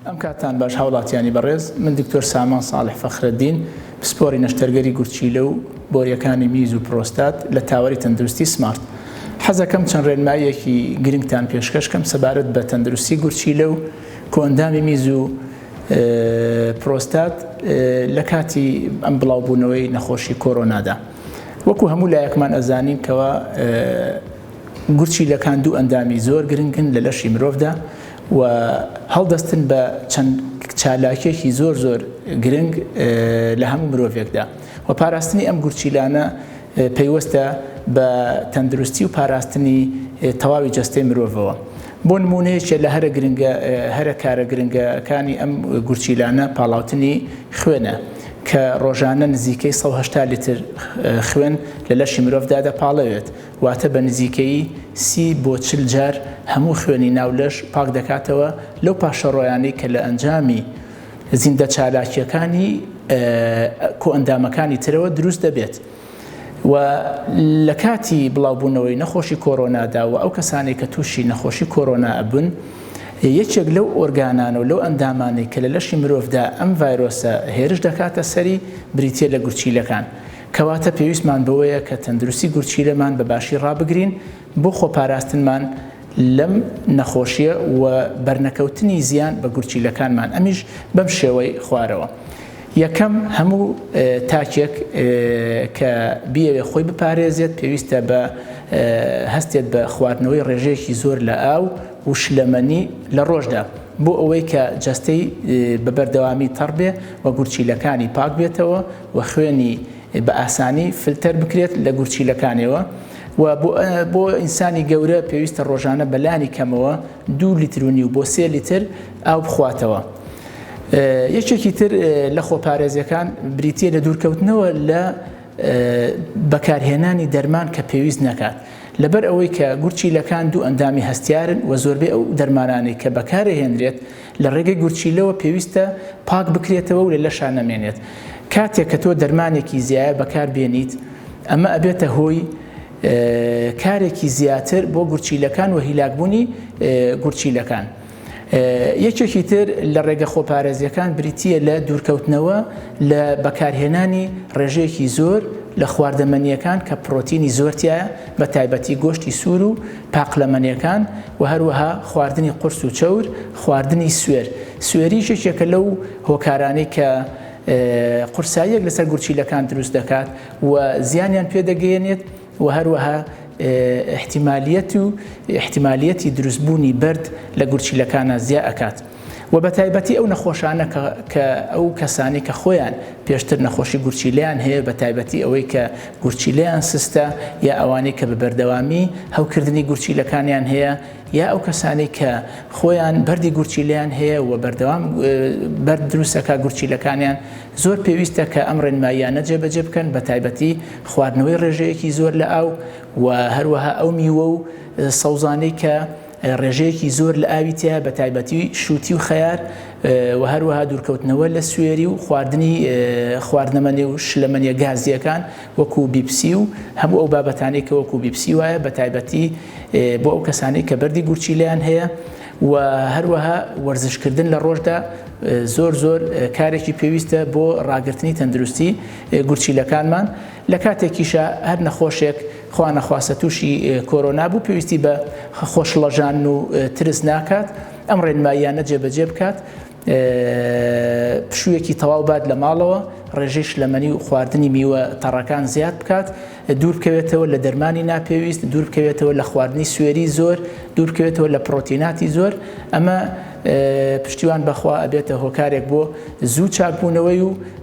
ئەم کاتان باش هاوڵاتیانی بەڕێز من دکتۆر سامان ساڵح فەخرەدین پسپۆری نەشتەرگەری گورچیلە و بۆریەکانی میز و پرۆستات لە تاوەری تەندروستی سمارت حەزەکەم چەند ڕێنماییەکی گرنگتان پێشکەشکەم سەبارەت بە تەندروستی گورچیلە و کۆندامی میز و پرۆستات لە کاتی ئەم بڵاوبوونەوەی نەخۆشی کۆرۆنادا وەکو هەموو لایەکمان ئەزانین کەەوە گورچی لەکان دوو ئەندامی زۆر گرنگن لە لەشی مرۆڤدا و هەڵدەستن بە چەند چالاکێکی زۆر زۆر گرنگ لە هەموو مرۆڤێکدا و پاراستنی ئەم گورچیلانە پەیوەستە بە تەندروستی و پاراستنی تەواوی جەستەی مرۆڤەوە. بۆ نموونە یەکێ لە هەرە گرنگە هەرە کارە گرنگە کانی ئەم گورچیلانە پاڵاوتنی خوێنە کە ڕۆژانە نزیکەی 180 لیتر خوێن لە لەشی مرۆڤدا دەپاڵەوێت واتە بە نزیکەی سی بۆ چل جار هەموو خوێنی ناو لەش پاک دەکاتەوە لەو پاشەڕۆیانەی کە لە ئەنجامی زیندە چالاکیەکانی کۆئەندامەکانی ترەوە دروست دەبێت. و لە کاتی بڵاوبوونەوەی نەخۆشی کۆرۆنادا و ئەو کەسانەی کە تووشی نەخۆشی کۆرۆنا ئەبن یەکێک لەو ئۆرگانانە و لەو ئەندامانەی کە لە لەشی مرۆڤدا ئەم ڤایرۆسە هێرش دەکاتە سەری بریتە لە گورچیلەکان کەواتە پێویستمان بەوەیە کە تەندروستی گورچیلەمان بە باشی ڕابگرین بۆ خۆپاراستنمان لەم نەخۆشیە و بەرنەکەوتنی زیان بە گورچیلەکانمان ئەمیش بەم شێوەی خوارەوە یەکەم هەموو تاکێک کە بیەوێ خۆی بپارێزێت پێویستە بە هەستێت بە خواردنەوەی ڕێژەیەکی زۆر لە ئاو و شلەمەنی لە ڕۆژدا بۆ ئەوەی کە جەستەی بە بەردەوامی تەڕ بێ و گورچیلەکانی پاک بێتەوە و خوێنی بە ئاسانی فلتەر بکرێت لە گورچیلەکانەوە و بۆ ئینسانی گەورە پێویستە ڕۆژانە بەلانی کەمەوە دوو لیتر و نیو بۆ سێ لیتر ئاو بخواتەوە. یەکێکی تر لە خۆپارێزیەکان بریتە لە دوورکەوتنەوە لە بەکارهێنانی دەرمان کە پێویست نەکات لەبەر ئەوەی کە گورچیلەکان دوو ئەندامی هەستیارن و زۆربەی ئەو دەرمانانەی کە بەکارهێنرێت لە ڕێگەی گورچیلەوە پێویستە پاک بکرێتەوە و لە لەشا نەمێنێت کاتێک کە تۆ دەرمانێکی زیایە بەکار بێنیت ئەمە ئەبێتە هۆی کارێکی زیاتر بۆ گورچیلەکان و هیلاکبوونی گورچیلەکان. یەکێکی تر لە ڕێگە خۆپارێزیەکان بریتە لە دوورکەوتنەوە لە بەکارهێنانی ڕێژەیەکی زۆر لە خواردەمەنیەکان کە پرۆتینی زۆرتیایە بە تایبەتی گۆشتی سوور و پاقلەمەنێکان و هەروەها خواردنی قورس و چەور، خواردنی سوێر، سوێریش یەکێکە لەو هۆکارانەی کە قورساییەک لەسەر گورچیلەکان دروست دەکات و زیانیان پێ دەگەیەنێت و هەروەها ئیحتیمالیەت و ئیحتیمالیەتی دروستبوونی بەرد لە گورچیلەکانا زیا ئەکات. و بە تایبەتی ئەو نەخۆشانە کە کە ئەو کەسانی کە خۆیان پێشتر نەخۆشی گورچیلیان هەیە بە تایبەتی ئەوەی کە گورچیلیان سستە یا ئەوانەی کە بە بەردەوامی هەوکردنی گورچیلەکانیان هەیە یا ئەو کەسانی کە خۆیان بەردی گورچیلیان هەیە و بەردەوام بەرد دروستەکە گورچیلەکانیان زۆر پێویستە کە ئەم ڕێنماییانە جێبەجێ بکەن بە تایبەتی خواردنەوەی ڕێژەیەکی زۆر لە ئاو و هەروەها ئەو میوە و سەوزانەی کە ڕێژەیەکی زۆر لە ئاوی تیایە بە تایبەتی شووتی و خەیار و هەروەها دوورکەوتنەوە لە سوێری و خواردنی خواردنەمەنێ و شلەمەنیە گازییەکان وەکوو بیپسی و هەموو ئەو بابەتانەی کە وەکوو بیپسی وایە بە تایبەتی بۆ ئەو کەسانەی کە بەردی گورچیلەیان هەیە و هەروەها وەرزشکردن لە ڕۆژدا زۆر زۆر کارێکی پێویستە بۆ ڕاگرتنی تەندروستی گورچیلەکانمان لە کاتێکیشا هەر نەخۆشێک خوا نەخواستە تووشی کۆرۆنا بوو پێویستی بە خۆشڵەژان و ترس ناکات ئەم ڕێنماییانە جێبەجێ بکات پشوویەکی تەواو بات لە ماڵەوە ڕێژەی شلەمەنی و خواردنی میوە تەڕەکان زیاد بکات دوور بکەوێتەوە لە دەرمانی ناپێویست دوور بکەوێتەوە لە خواردنی سوێری زۆر دوور بکەوێتەوە لە پرۆتیناتی زۆر ئەمە پشتیوان بەخوا ئەبێتە هۆکارێک بۆ زوو چاکبوونەوەی و